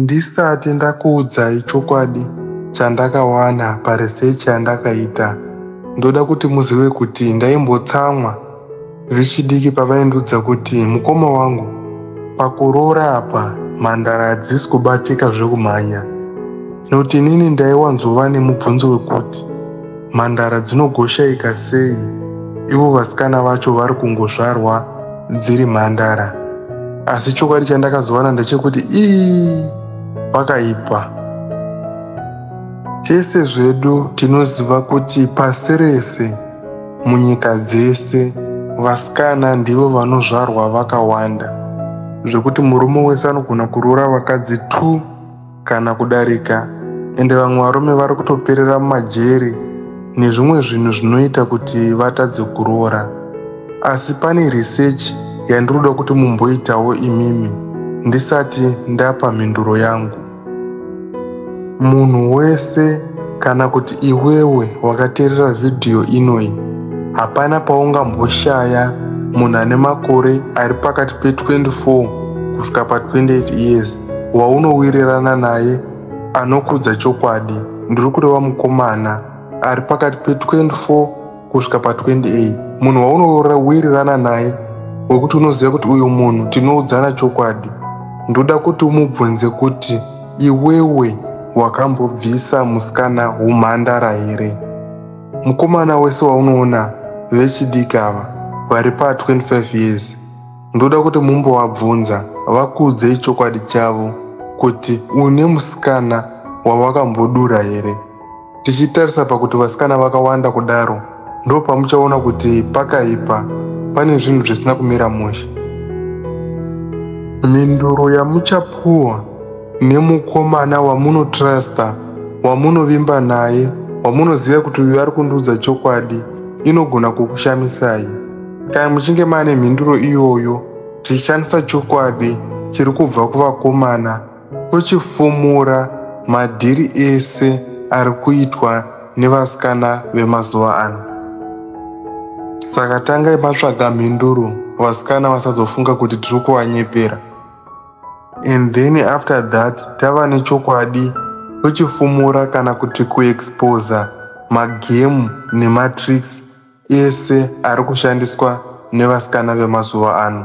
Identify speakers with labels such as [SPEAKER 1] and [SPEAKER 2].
[SPEAKER 1] Ndisati ndakuudzai chokwadi chandakawana paresearch yandakaita, ndoda kuti muzive kuti ndaimbotsamwa vechidiki pavaindiudza kuti mukoma wangu pakuroora apa mhandara hadzisi kubatika zvekumhanya. Noti inini ndaiwanzova nemubvunzo wekuti mhandara dzinogoshaika sei ivo vasikana vacho vari kungozvarwa dziri mhandara asi chokwadi chandakazowana ndechekuti ii pakaipa tese zvedu tinoziva kuti pasi rese munyika dzese vasikana ndivo vanozvarwa vakawanda zvekuti murume wese anogona kuroora vakadzi two kana kudarika ende vamwe varume vari kutoperera mumajeri nezvimwe zvinhu zvinoita kuti vatadze kuroora asi pane research yandinoda kuti mumboitawo imimi ndisati ndapa mhinduro yangu munhu wese kana kuti iwewe wakateerera vhidhiyo inoyi hapana paungamboshaya munhu ane makore ari pakati pe24 kusvika pa28 years waunowirirana naye anokudza chokwadi ndiri kureva mukomana ari pakati pe24 kusvika pa28 munhu waunowirirana naye wekuti unoziva kuti uyu munhu tinoudzana chokwadi ndoda kuti umubvunze kuti iwewe wakambobvisa musikana humhandara here mukomana wese waunoona vechidiki ava vari pa 25 years ndoda kuti mumbovabvunza vakuudzei chokwadi chavo kuti une musikana wavakambodura here tichitarisa pakuti vasikana vakawanda kudaro ndo pamuchaona kuti pakaipa pane zvinhu zvisina kumira mushe mhinduro yamuchapuwa nemukomana wamunotrasta wamunovimba naye wamunoziva kuti uyu ari kundiudza chokwadi inogona kukushamisai Kana muchinge mane mhinduro iyoyo, tichishandisa chokwadi chiri kubva kuvakomana tochifumura madhiri ese ari kuitwa nevasikana vemazuva ano. Saka tangai matsvaga mhinduro vasikana vasazofunga kuti tiri kuvanyepera. And then after that tava nechokwadi tochifumura kana kuti kuexposa magemu nematricks ese ari kushandiswa nevasikana vemazuva ano.